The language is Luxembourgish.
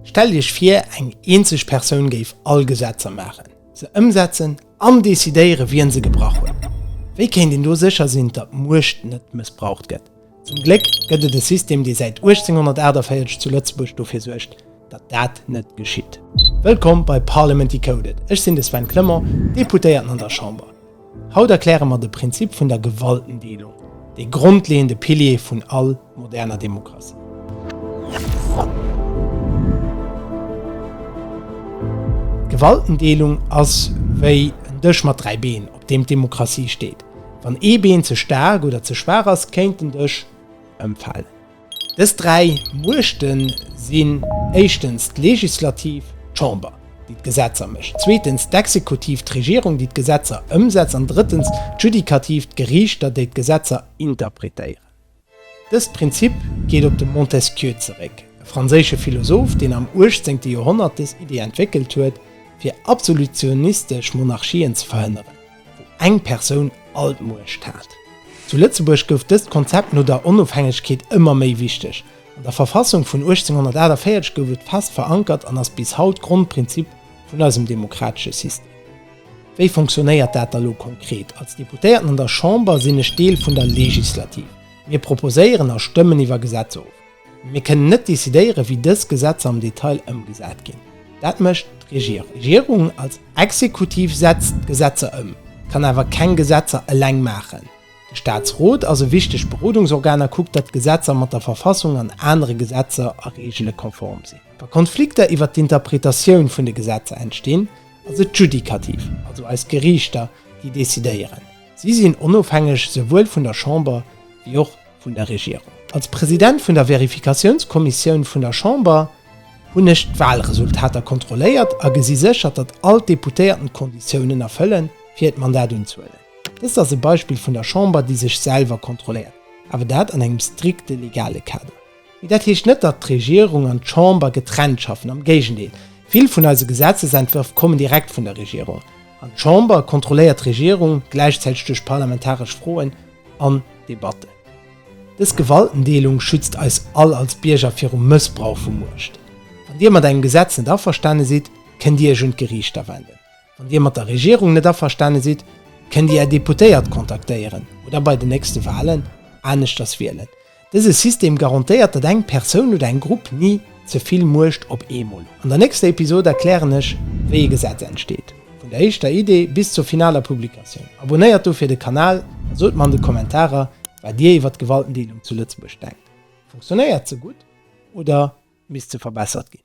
Stellt Iech vir, eng eenzeg Persoun géif all Gesetzer maachen, se ëmsetzen an decidéieren, wien se gebrach huet. Wéi kéint een do sécher sinn, datt d'Muecht net mëssbraucht gëtt? Zum Gléck gëtt et e System, dee säit 1848 zu Lëtzebuerg dofir suergt, datt dat net geschitt. Wëllkomm bei Parliament Decoded, ech sinn de Sven Clement, Deputéierten an der Chamber. Haut erkläre mer de Prinzip vun der Gewaltendeelung, dee grondleeënde Pilier vun all moderner Demokratie. D'Gewaltendeelung ass wéi en Dësch mat dräi Been, op deem d'Demokratie steet. Wann ee Been ze staark oder ze schwaach ass, kéint den Dësch ëmfalen. Dës dräi Muechte sinn éischtens d'Legislativ, d'Chamber, déi d'Gesetzer mécht, zweetens d'Exekutiv, d'Regierung, déi d'Gesetzer ëmsetzt, an drëttens d'Judikativ, d'Geriichter, déi d'Gesetzer interpretéieren. Dëst Prinzip geet op de Montesquieu zeréck, e franséische Philosoph, deen am uechtzéngte Joerhonnert dës Iddi entwéckelt huet, fir absolutionistesch Monarchien ze verhënneren. wou eng Persoun all d'Muecht hat. Zu Lëtzebuerg gouf dëst Konzept no der Onofhängegkeet ëmmer méi wichteg. An der Verfassung vun 1848 gouf et fest verankert an ass bis haut Grondprinzip vun eisem demokratesche System. Wéi fonctionnéiert dat da lo konkret? Als Deputéierten an der Chamber sinn ech Deel vun der Legislativ. Mir proposéieren a stëmmen iwwer Gesetzer of. Mir kënnen net decidéieren, wéi dës Gesetzer am Detail ëmgesat ginn. Dat mécht d'Regierung. D'Regierung als Exekutiv setzt d'Gesetzer ëm, kann awer keng Gesetzer eleng maachen. De Staatsrot ass e wichtegt Berodungsorgan a kuckt, datt d'Gesetzer mat der Verfassung an anere Gesetzer a Reegele konform sinn. Wa Konflikter iwwer d'Interpretatioun vun de Gesetzer entstinn, ass et d'Judikativ, also eis Geriichter, déi decidéieren. Si sinn onofhängeg esouwuel vun der Chamber wéi och. vun der Regierung. Als President vun der Verifikatiounskommissioun vun der Chamber hunn ech d'Walresultater kontrolléiert a gesi sécher, datt all d'Deputéierten d'Konditiounen erfëllen, fir hiert Mandat unzehuelen. Dëst ass e Beispill vun der Chamber, déi sech selwer kontrolléiert, awer dat an engem strikte legale Kader. Mee dat heescht net, datt d'Regierung an d'Chamber getrennt schaffen, am Géigendeel, vill vun eise Gesetzesentwërf kommen direkt vun der Regierung an d'Chamber kontrolléiert d'Regierung gläichzäiteg duerch parlamentaresch Froen, an Debatten. Dës Gewaltendeelung schützt eis all als Bierger virum Mëssbrauch vu Muecht. Wann Dir mat engem Gesetz net averstane sidd, kënnt Dir Iech un d'Geriichter wenden. Wann Dir mat der Regierung net averstane sidd, kënnt Dir Är Deputéiert kontaktéieren oder bei den nächste Walen aneschters wielen. Dëse System garantéiert, datt eng Persoun oder eng Grupp ni ze vill Muecht op eemol huet. An der nächster Episod erklären ech, wéi e Gesetz entsteet, vun der éischter Idee bis zur finaler Publikatioun. Abonéiert dofir de Kanal a sot mer an de Kommentarer, wat Dir iwwer d'Gewaltendeelung zu Lëtzebuerg denkt. Funktionéiert se gutt oder misst se verbessert ginn?